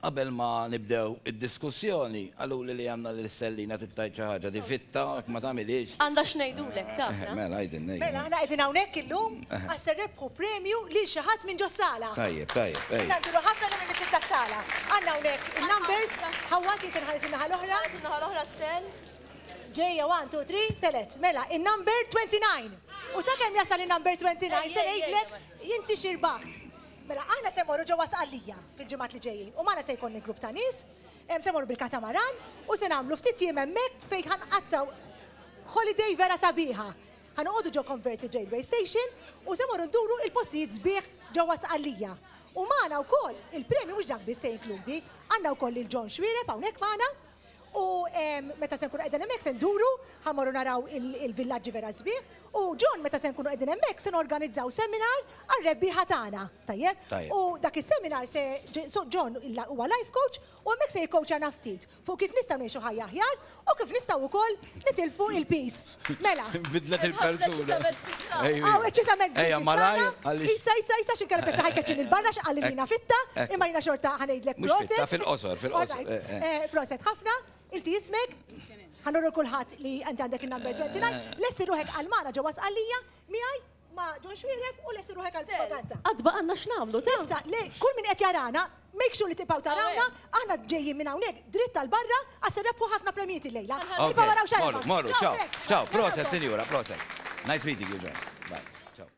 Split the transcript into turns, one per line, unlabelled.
Qabel ma nibdew id-diskussjoni, qaluli li Anna lil Stellina trid tgħid xi ħaġa, difitta jekk ma tagħmilhiex. Għandha x'ngħidulek, taf, la? Mela, għidilna ejja. Mela, aħna qegħdin hawnhekk illum għax se nrebbħu premju lil xi ħadd minn ġos-sala. Tajjeb, tajjeb, ejja. Jiena ngħidulu ħafna lil in-nies tas-sala. Għandna hawnhekk in-numbers. Ħawwa, trid inħares in-naħa l-oħra? Ħares in-naħa l-oħra, Stell. Ġejja, one, two, three, telgħet. Mela, in-number 29. U sakemm jasal in-number 29 se ngħidlek inti x'irbaħt. Mela aħna se mmorru ġewwa Sqallija fil-ġimgħat li ġejjin u magħna se jkollni grupp ta' nies, se mmorru bil-katamaran u se nagħmlu ftit jiem hemmhekk fejn ħa nqattgħu holiday vera sabiħa. Ħa noqogħdu ġo Converted Railway Station u se mmorru nduru il-postijiet sbieħ ġewwa Sqallija. U magħna wkoll, il-premju mhux dak biss se jinkludi, għandna wkoll lil John Xuereb hawnhekk magħna. U meta se nkunu qegħdin hemmhekk se nduru, ħa mmorru naraw il-villaġġi vera sbieħ, u John meta se nkunu qegħdin hemmhekk se norganizzaw seminar għar-rebbieħa tagħna, tajjeb? U dak is-seminar se, so John huwa life coach u hemmhekk se jikkowċjana ftit fuq kif nistgħu ngħixu ħajja aħjar u kif nistgħu wkoll nitilfu il-piż. Mela. Bidlet il-persuna. Aw, eċċitament grip Ejja, malaj. Isa, isa, isa, xin kellet taħi keċin il-barra, xqalli li jina fitta, imma jina xorta ħanejdlek proset. Fil-qosor, fil-qosor. Proset, ħafna, inti jismek? Għanurru kullħat li għanti għandek il-number 29, l-essi ruħek għal-mana ġewas għallija, miħaj? Ma' John Xuereb u lesti ruħek għall-propaganza. Għad baqgħalna x'nagħmlu ta'. Issa, le, kull min qed jarana, make sure li tibqgħu tarawna, aħna ġejjin minn hawnhekk dritt għal barra għax se nrebbħu ħafna premjijiet illejla. Iva waraw x'għarafha. Morru, morru, ciao, ciao, proset sinjura, proset. Nice meeting you John. Bye. Ciao.